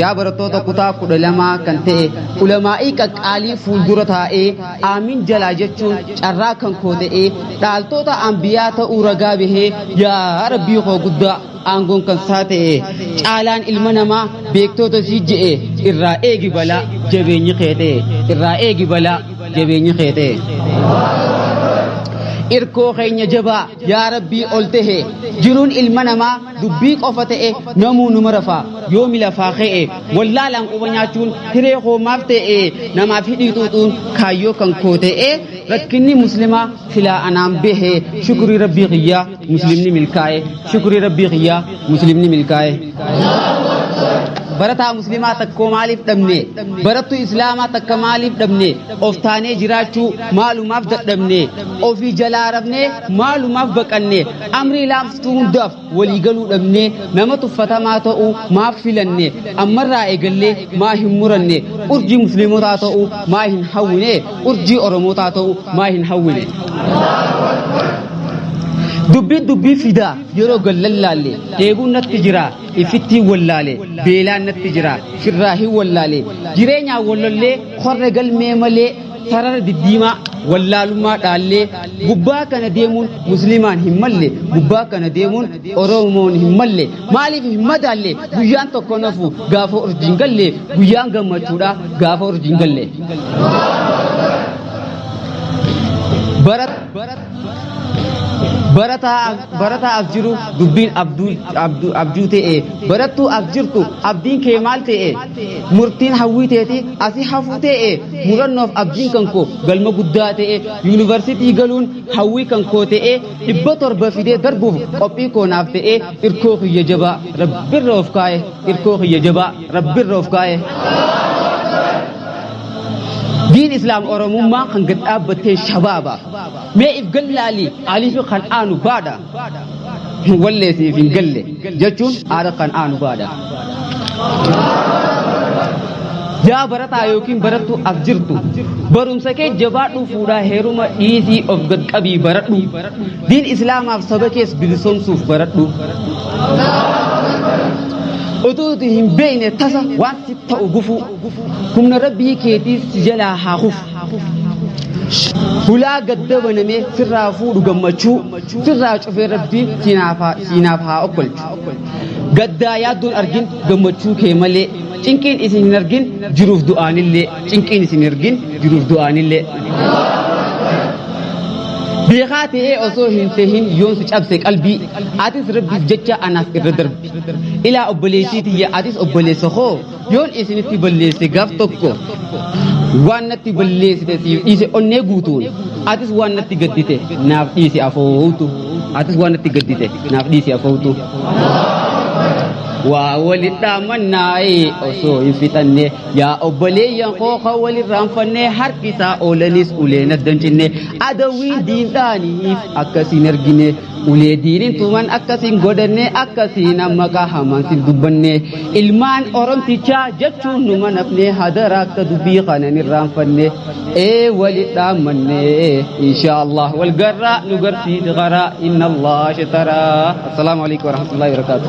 yaa barattoota kutaa kudha lamaa kan ta'e ulamaa'ii qaqqaalii fuuldura taa'ee aamin jalaa jechuun carraa kan koo ta'ee dhaaltoota ambiyaa ta'uu ragaa bahee yaa rabbii koo guddaa aangoon kan isaa ta'e caalaan ilma namaa beektoota sii je'e irraa eegi balaa jabeenyi kee ta'e irraa eegi balaa jabeenyi kee ta'e. irkoo keenya jabaa yaa rabbii ol ta'e jiruun ilma namaa dubbii qofa ta'e namuu numa rafaa yoomi lafaa ka'e wallaalaan quba nyaachuun hiree hoomaaf ta'e namaaf hidhii xuuxuun kaayyoo kan koo ta'e rakkinni muslimaa silaa anaan bahe shukurii rabbii kiyyaa muslimni milkaa'e shukurii rabbii kiyyaa muslimni milkaa'e. barataa muslimaa takkoo maaliif dhabne barattuu islaamaa takka maaliif dhabne of taanee jiraachuu maalumaaf dadhabne ofii jalaa rafne maalumaaf baqanne amrii laamsituu hundaaf waliigaluu dhabne nama tuffatamaa ta'uu maaf filanne ammarraa eegallee maa hin muranne urjii musliimotaa ta'uu maa hin hawwine urjii oromootaa ta'uu maa hin hawwine dubbiin dubbii fidaa yeroo gad lallaalle dheebuun natti jira ifittiin wallaale beelaan natti jira firraa hin wallaale jireenyaa wallollee korre galmee malee sarara diddiimaa wallaalummaa dhaallee gubbaa kana deemuun muslimaan hin malle gubbaa kana deemuun oromoon hin malle maaliif hin madaalle guyyaan tokko nafu gaafa urjiin galle guyyaan gammachuudha gaafa urjiin galle. Barat. barataa barataa as jiru dubbiin abduu abduu abjuu ta'e barattuu as jirtu abdiin kee maal ta'e murtiin hawwii teeti asi hafuu ta'e murannoof abdiin kan koo galma guddaa ta'e yuunivarsiitii galuun hawwii kan koo ta'e dhibba torba fidee darbuuf qophii koo naaf ta'e irkoo kiyya jabaa rabbirra of kaa'e irkoo kiyya jabaa rabbirra of kaa'e. diin islaam oromummaa kan gad dhaabbattee shabaaba mee if gallaalii alifi kan aanu baadha wallee siif hin galle jechuun aara kan aanu baadha yaa barataa yookiin barattuu as jirtu barumsa kee jabaadhuu fuudhaa heeruma dhiisii of gad qabii baradhu diin islaamaaf saba kees bilisomsuuf baradhu utuu hin beekne tasa waan si ta'u gufuu humna rabbii keetiis si jalaa haa kufu hulaa gadda banamee sirraa fuudhu gammachuu sirraa cufee rabbii siinaaf haa- siinaaf haa okkolchu gaddaa yaaddoon argin gammachuu kee malee cinqiin isin hin argin jiruuf du'aanillee cinqiin isin hin argin jiruuf du'aanillee beekaa ta'ee osoo hin tahin yoon si cabse qalbii atis rabbiif jecha anaaf irra darbi ilaa obboleettii tiyya atis obboleessa koo yoon isinitti balleesse gaaf tokko waan natti balleessite siif dhiise onnee guutuun atis waan natti gaddite naaf dhiisi afootu atis waan natti gaddite naaf dhiisi afootu waa walidhaa mannaa'ee osoo hin fixanne yaa obboleeyyan kooka walirraan fannee harkisaa oolanis ulee naddan cinne adawiin diindhaaniif akkas hin argine ulee diinin tuman akkasiin godhanne akkasiin amma qahamaan siif dubbanne ilmaan oromtichaa jechuun nu manafne hadara akka dubbii kanan irraanfanne ee walit dhaammanne insha allah wal garraa nu garsiisi karaa inna allah shataraa assalaamu alaikum warahmatullahi wabarakaatu